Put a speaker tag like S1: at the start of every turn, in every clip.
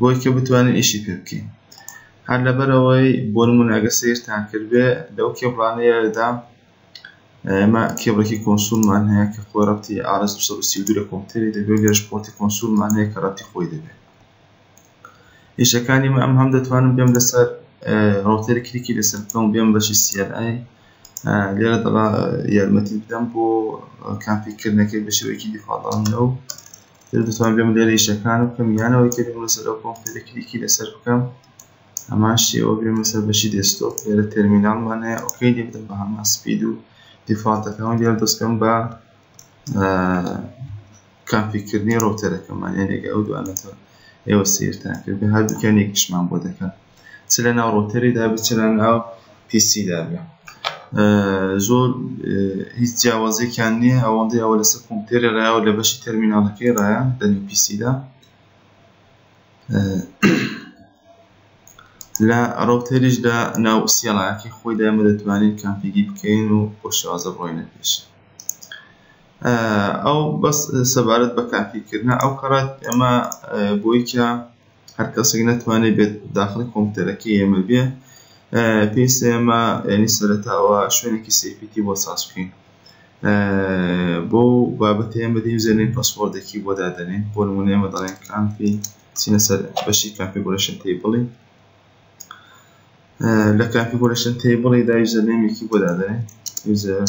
S1: بۆی کە بتوانین ئیشی پێ بکەین هەر لەبەرەوەی بۆ نمونە ئەگە سیرتان کردبێ لەو کێبڵانەیەدا ئێمە کێبڵێکی کۆنسولمان هەیە کە خۆ ڕەتی ئارس 232 لە کۆمپیوتەری دەبێت لێش پۆرتی کۆنسولمان هەیە کە ڕەتی خۆی دەبێت ئیشەکانی من ئەم هەم دەتوانم بێم لەسەر ڕوتەری کلیکی لەسەر بکەم بێم بەشی سیLI لێرە دەڵا یارمەتی بدەم بۆ کامپیکردنەکەی بە شێوەیەکی دیفاڵداڵنەوە تر دەتوان بێم لێرە ئیشەکان بکەم یانەوەی تێ بێم لەسەر ئەو کۆمپیوتەرە کلیکی لەسەر بکەم هەمان شێوە بێم لەسەر بەشی دێسکتۆپ لێرە تەرمیناڵمان هەیە ئۆکەی لێ بدەم بە هەمان سپید و دیفاڵتەکەم لێرە دەستکەم بە کانفیکردنی ڕوتەرەکەمان یانێک ئەو دوانەتەوە ئێوە سیرتان کرد هەردووکیان یەکیشمان بۆ دەکەن چ لە ناو ڕۆتەری دابێت چ لە ناو پیسی دابێت زۆر هیچ جیاوازێکیان نییە ئەوەندەی ئەوە لەسەر کۆمپیوتەری ڕایە و لە بەشی تەرمیناڵەکەی ڕایە لە نێو پیسیدا لە ڕۆتەریشدا ناو سیێڵایەکی خۆی دامە دەتوانین کامپیگی بکەین و بۆ شێوازە بڕۆینە پێش ئەو بەس سەبارەت بە کامپیکردە ئەو کەڕات ئەمە بۆیکە هەر کەسێک نەتوانێت بێت داخڵی کۆمپیوتەرەکەی ئێمە بێ پێویستە ئێمە یعنی سەرەتاوە شوێنێکی سیفیتی بۆ ساز بکەین بۆ بابەتە ئێمە دەین زێنین پەسپۆردێکی بۆ دادەنێن بۆ نمونە ئێمە دەڵێن کامپی چینە سەر بەشی کاپیگۆرشن تی بڵی لە کاپیگۆرشن تی بڵی دا یوزەرنێمێکی بۆ دادەنێن یوزەر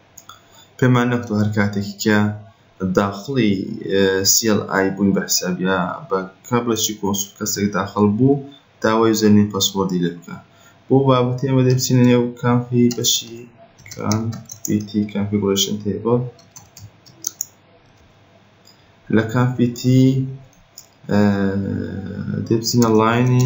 S1: پێمان نەکوتوە هەر کاتێک کە داخڵی CLI بووین بە حساب یا بە کابلێکی کۆنسوڵ کەسێک داخڵ بوو داوای یوزەرنیم پەسوۆردی لێ بکا بۆ بابەتی ئەمە دەچینە نێو کامپی بەشی کام پیتی کانفیگوریشن تیبڵ لە کام پیتی دەچینە لاینی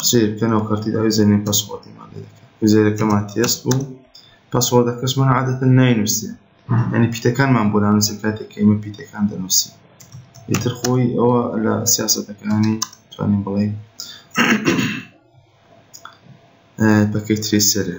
S1: قسەی بکەنەوە کەرتی داوی زەمین پەسوەردەمان لێ دەکەن وزێرەکەمان تێست بوو پەسوەردەکەشمان عادەتەن ناینووسێ ینی پیتەکانمان بۆ نانووسێ کاتێک کەمە پیتەکان دەنووسی ئیتر خۆی ئەوە لە سیاسەتەکانی توانین بڵێ پەکەی ترێسەرە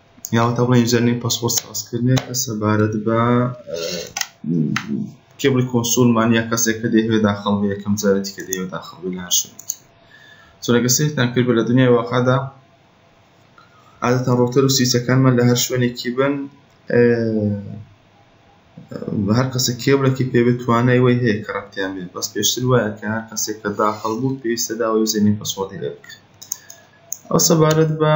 S1: یاوەتا بڵێن یوزەرنیم پاسپۆرت سازکردنێ کە سەبارەت بە کێبڵی کۆنسولمان یا کەسێک کە دەیەوێ داخڵ بێ یەکەم جارێتی کە دەیەوێ داخڵ بێ لە هەر شوێنێک چۆنەکە سێتان کرد بە لە دنیای واقعدا عادەتەن ڕۆتەر و سیسەکانمان لە هەر شوێنێکی بن هەر کەسە کێبلێکی پێوێت توانای وی هەیە کە ڕەتیان بێت بەس پێشتر وایە کە هەر کەسێک کە داخڵ بوو پێویستە داوای زێنی پسۆدی لێ بکە ئەو سەبارەت بە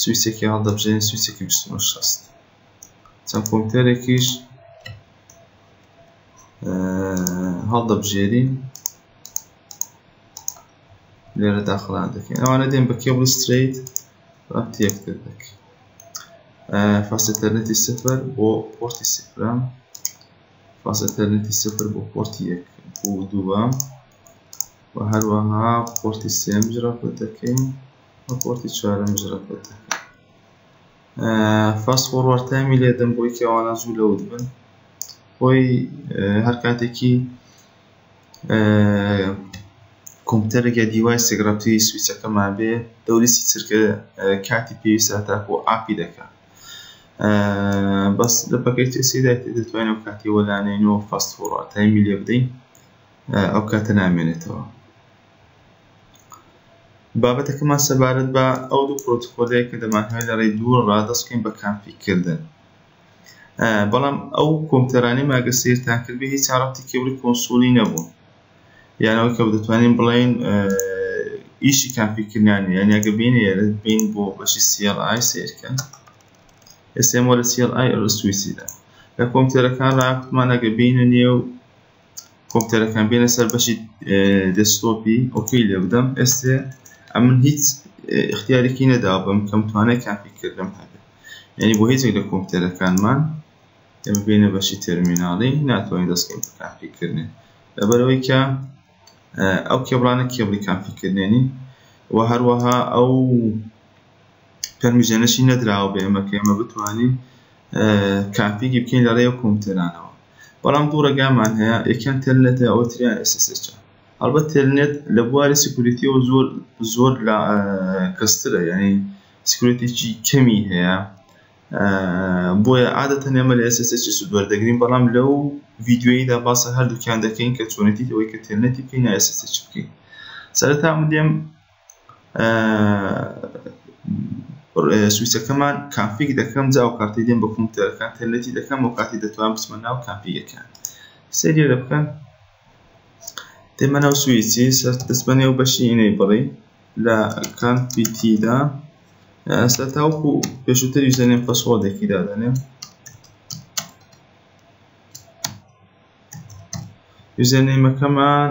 S1: سویچێکی هەڵدەبژێرین سویچێکی بیست و نۆ شەست چەند کۆمپیوتەرێکیش هەڵدەبژێرین لێرە داخڵان دەکەین ئەوانە دێن بە کێبڵ ستریت ڕەب تێکتر دەکەین فاست ئینتەرنێتی سفر بۆ پۆرتی سفرام فاست ئینتەرنێتی سفر بۆ پۆرتی یەک بۆ دووەم و هەروەها پۆرتی سێم جرا دەکەین ڕپۆرتی چوارەم جڕە پێتەکە فاست فۆڕوارد تایمی لێدەم بۆی کەوانە زوو لەوت بن خۆی هەر کاتێکی کۆمپیوتەرێک یا دیوایسێک ڕەتی سویچەکەمان بێ دەوریسی چرکە کاتی پێویستە تاکو ئاپی دەکات بەس لە پەکەی تێسیدا دەتوانین ئەو کاتی وەلانێن و فاست فۆڕوارد تایمی لێ بدەین ئەو کاتە نامێنێتەوە بابەتەکەمان سەبارەت بە ئەو دوو پرۆتکۆلەیە کە دەمانهەوێت لە ڕێی دوو ڕا دەست بکەین بە کانفیگ کردن بەڵام ئەو کۆمپیوتەرانەی ماگە سیرتان کرد بێ هیچ ڕەبتی کێبڵی کۆنسولی نەبوو یانەوە کە دەتوانین بڵێین ئیشی کانفیگکردنیان یانە گە بین بین بۆ بەشی CLI سیرکەن ئێسێمۆ لە CLI ئەرسویسیدا لە کۆمپیوتەرەکان ڕاکتمانەگە بینە نێو کۆمپیوتەرەکان بێنە سەر بەشی دەستۆپی ئۆکی لێ بدەم ئێستێ ئەمن هیچ اختیارێکی نەدا بەم کەم توانای کافیکردم هەبێت یعنی بۆ هیچێک لە کۆمپیوتەرەکانمان ئەمە بینە بەشی تەرمیناڵی ناتوانین دەستکەین کافیکردنێ لەبەرەوەی کە ئەو کێبڵانە کێبڵی کافیکردێنین و هەروەها ئەو پەرمیشنێکی نەدراوە بە ئێمە کە ئێمە بتوانین کافیگی بکەین لە ڕێو کۆمپیوتەرانەوە بەڵام دوو ڕێگامان هەیە یەکیان تەلنێتە ئەوە تریان SSH هەڵبەت تەلنێت لە بواری سکوریتیەوە زۆر زۆر لە کەسترە یعنی سکوریتێکی کەمی هەیە بۆیە عادەتەن ئێمە لە SSH سود وەردەگرین بەڵام لەو ڤیددیویدا باسە هەردووکیان دەکەین کە چۆنێتی ئەوەی کە تەلنێتی بکەین یا SSH بکەین سەرەتا من دێم سویچەکەمان کانفیگ دەکەم جا ئەو کاتەی دێم بە کۆمپیوتەرەکان تەرلەتی دەکەم ئەو کاتی دەتوانم بچمە ناو کانفیگەکان سەیری لە بکەن دێمە ناو سویچی سەر دەست بە نێو بەشی ئینەیبڵی لە کانفیتیدا ئەستا تاوەکو پێشووتر یوزەرنێم پەسوۆردێکی دادەنێم یوزەرنێمەکەمان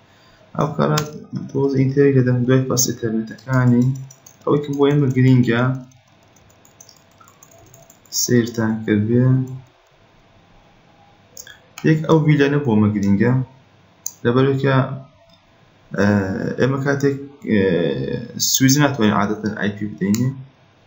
S1: ئەو کارە تۆز ئینتەری لە دەمدوای پاس ئینتەرنێتەکانی ئەوەی کە بۆ ئێمە گرینگە سیرتان کردێ یەک ئەو ویلەنە بۆمە گرینگە لەبەرکە ئێمە کاتێک سویز ناتوانین عادەتەن ئایپی بدەینێ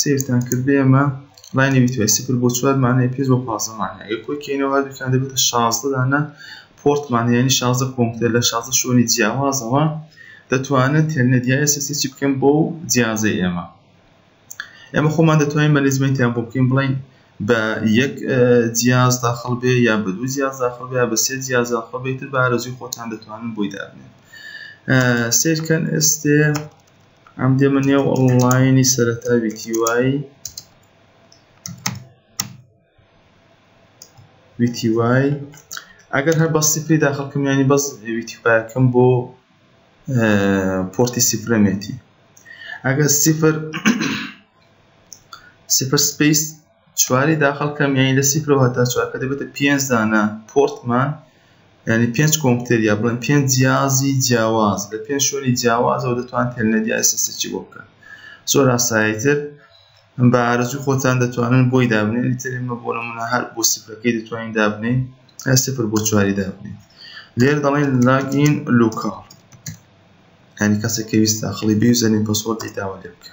S1: سەیرتان کرد بێمە ڕای نەویتوای سفر بۆ چوار مانای پێنج بۆ پازدە مانای ئەگەر کۆی کەینەوە هەردووکیان دەبێتە شازدە دانە پۆرتمان یانی شازدە کۆمپیوتەر لە شازدە شوێنی جیاوازەوە دەتوانن تێلنێت یا ئێسەسیچی بکەن بۆ جیازەی ئێمە ئێمە خۆمان دەتوانین مەنیزمنتیان بۆ بکەین بڵین بە یەک جیاز داخڵ بێ یا بە دوو جیاز داخڵ بێ بە سێ جیاز داخڵ بێتتر بارەزوی خۆتان دەتوانن بۆی دابنێن سیرکەن ئێستێ ئەم دێمە نێو ئەڵڵاینی سەرەتا ویتی وای ویتی وای ئەگەر هەر بەستی پێی داخڵکم ینی بەس ویتی وایەکەم بۆ پۆرتی سیفرەمێتی ئەگەر سیفر سیفر سپیس چواری داخل کەم یانی لە سیفر ەوە هەتا چوار کە دەبێتە پێنج دانە پۆرتمان یانی پێنج کۆمپتێر یا بڵێن پێنج جیازی جیاواز لە پێنج شوێنی جیاوازەوە دەتوان تێلنەدی ئایسەسەچی بۆ بکەن زۆر ئاساییتر بە ئارەزوی خۆتان دەتوانن بۆی دابنێن لەتر ئمە بۆ نمونە هەر بۆ سفرەکەی دەتوانین دابنین هە سفر بۆ چواری دابنین لێر دەڵێن لاگین لوکاڵ هەنی کەسێک کەویست داخڵی بێ زەنین پەسۆرتی داوا لێ بکە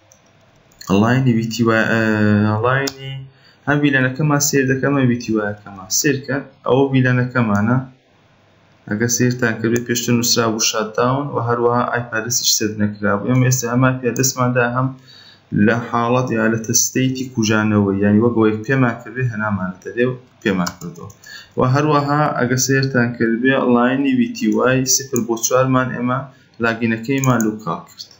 S1: ئەڵاینی ویتی وە ئەڵاینی ئەم ویلانەکەمان سێر دەکەمە ویتی وایەکەمان سێرکە ئەوە ویلانەکەمانە ئەگە سێرتان کردێ پێشتر نووسرا بوو شادداون و هەروەها ئایپادسیش سێت نەکرا بوو ئەم ئێستا ئەمە پێدەستماندا هەم لە حاڵەت یا لە تەستەیتی کوژانەوە یانی وەگەوەی پێمان کردێ هەنامانە دەێ و پێمان کردەوە و هەروەها ئەگە سێرتان کردێ لاینی ویتی وای سفر بۆ چوارمان ئێمە لاگینەکەیمان لوکاڵ کرد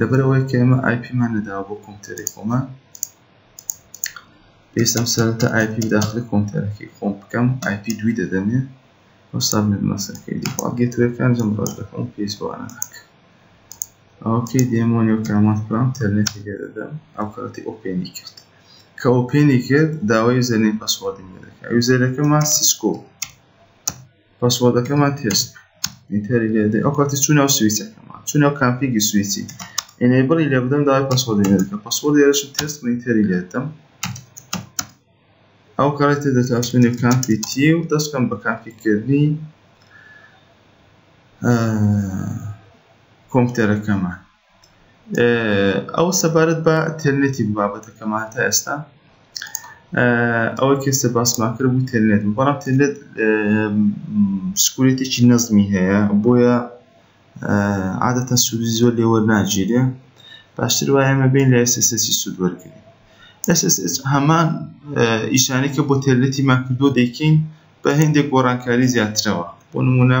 S1: لەبەر ئەوەی کە ئێمە ئایپی مان نەداوە بۆ کۆمپیوتەری خۆمان پێویستم سەرەتا ئایپی داخلی کۆمپیوتەرەکەی خۆم بکەم ئایپی دوی دەدەمێ و سابمێت مەسەکەی دیخوا گێتوەکان جەم ڕۆژ دەکەم پێویست بۆ ئەنە ناکە ئەوکەی دێمۆنی و کامات پرام تەرنێتی لێ دەدەم ئەو کاتی ئۆپێنی کرد کە ئۆپێنی کرد داوای زەنێ پەسوەردی لێ دەکە ئەو زەرەکەمان سیسکۆ پاسوۆردەکەمان تێست ئینتەری لێ دەین ئەو کاتی چوو ناو سویچەکەمان چوو ناو کانفیگی سویچی ئێنێبڵی لێ بدەم داوای پاسوۆردی لێ دەکەم پاسوۆردی هێرشم تێست و ئینتەری لێ دەم ئەو کاری تێ دەتاسوێنێ کانفی تی و دەستکەم بە کانفیکردنی کۆمپیوتەرەکەمان ئەو سەبارەت بە تێلنێتی بابەتەکەمان تا ئێستا ئەوە کێسە باسمان کرد بوو تێلنێت بەڵام تێلێت سکورێتێکی نەزمی هەیە بۆیە عادەتە سوودی زۆر لێوە ناگیرێ باشتر وایە ئەمە بین لە ئێسسی سوود وەرگێ SSH هەمان ئیشانێکە بۆ تێلێتی ماکردۆ دەیکەین بە هەندێک گۆڕانکاری زیاترەوە بۆ نمونە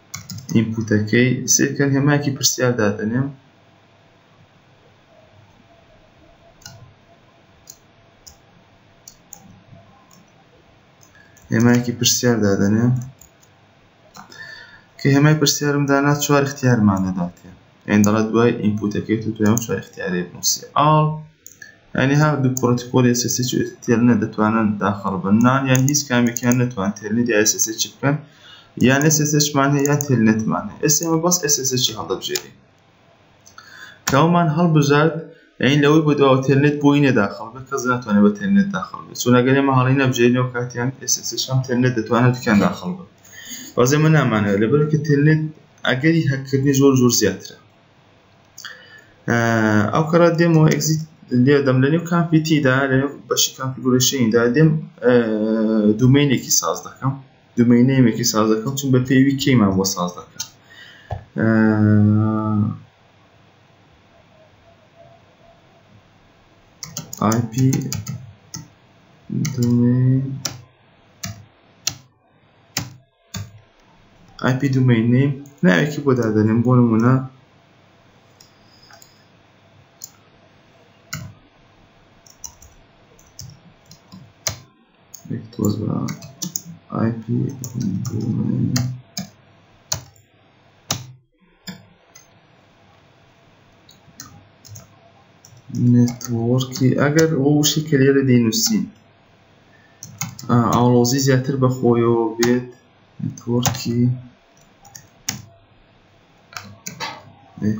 S1: ئینپوتەکەی سیرکە هێمایەکی پرسیار دادەنێم هێمایەکی پرسیار دادەنێم کە هێمای پرسیارم دانا چوار اختیارمان دەداتێ ئەین دەڵێت دوای ئینپوتەکەی تو توێن چوار اختیارێ بنووسی ئاڵ یانی هەر دوو پرۆتکۆلی SSH و تێلنێت دەتوانن داخڵ بن نان یان هیچ کامێکیان نەتوان تێلنێت یا SSH بکەن یان SSH مان هەیە یا تێلنێتمان هەیە ئێستا ئێمە بەس SSH هەڵدەبژێرین کەومان هەڵبژارد یعنی لەوەی بۆ دوا تێلنێت بۆی نەداخڵ بێت کەس ناتوانێت بە تێلنێت داخڵ بێت چون ئەگەر ئێمە هەڵی نەبژێرینەوە کاتیان SSH هەم تێلنێت دەتوانێت دوکیان داخڵ بن بەس ئێمە نامانەوە لەبەرکە تێلنێت ئەگەری هەککردنی زۆر زۆر زیاترە ئەو کەڕە دێم و ئەگزیت لێدەم لە نێو کامپیتیدا لە نێو بەشی کامپیگورشیندا دێم دومینێکی ساز دەکەم دومینێمێکی ساز دەکەم چون بە پێوی کێمان بۆ ساز دەکەم IP domain ئای پی دومەین نیم ناوێکی بۆ دادەنێم بۆ نمونە تۆز بە ئای پی دومەین نێتوەڕکی ئەگەر ئەو وشی کە لێرە دەینووسین ئاڵۆزی زیاتر بەخۆیەوە بێت نێتوەڕکی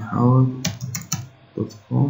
S1: حاوت دوت کۆم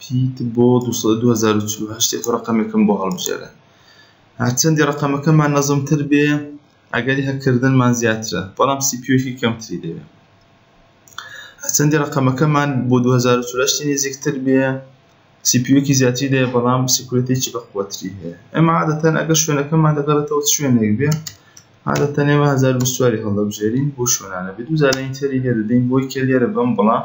S1: پیت بۆ دوو سەد و دوو هەزار و چل و هەشت یەک ڕەقەمێکم بۆ هەڵبژێرە هەرچەندی ڕەقەمەکەمان نەزمتر بێ ئەگەری هەکردنمان زیاترە بەڵام سیپیۆکی کەمتری دەوێت هەچەندی ڕقەمەکەمان بۆ 2010 نزیکتر بێ سیپیۆکی زیاتری دەیە بەڵام سیکورەتێکی بەخوەتری هەیە ئەمە عادەتەن ئەگە شوێنەکەمان دەگەڕێتەوە شوێنێک بێ عادەتەن ئێمە 1920 هەڵدەبژێرین بۆ شوێنانە بێ دووزارەی تری لێ دەدەین بۆی کە لێرە بم بڵام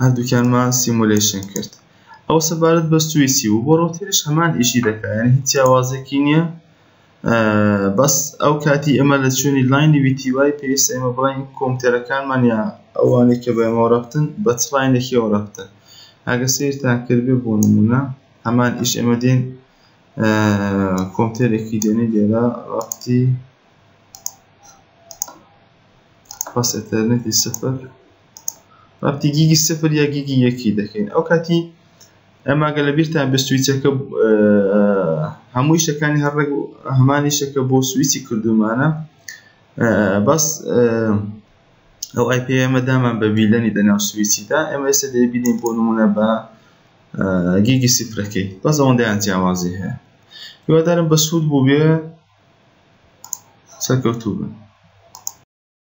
S1: هەردووکیانمان سیمولەیشن کرد ئەو سەبارەت بە سویسی بوو بۆ ڕۆتەریش هەمان ئیشی دەکا یانی هیچ جیاوازێکی نییە بەس ئەو کاتی ئێمە لە چوێنی لاینی ویتی وای پێویستە ئێمە بڵێین کۆمپیوتەرەکانمان یا ئەوانەی کە بە ئێمەوە ڕەبتن بە چ لاینێکیەوە ڕەبتن ئەگە سەیرتان کردبێ بۆ نمونە هەمان ئیش ئێمە دێن کۆمپیوتەرێکی دێنین لێرە ڕەبتی بەس ئەتەرنێتی سفر ڕەفتی گیگی سفر یا گیگی یەکی دەکەین ئەو کاتی ئەماگە لە بیرتان بە سویچەکە هەموو شتەکانی هەر ڕێک هەمانی شەکە بۆ سویچی کردومانە بەس ئەو ئای پێ ئەمە دامان بە ویلەنی دەناو سویچیدا ئەمە ئێستا دەبینین بۆ نمونە بە گیگی سفرەکەی بەس ئەوەندەیان جیاوازی هەیە هیوادارم بەسوود بووبێ سەرکەوتوو بن.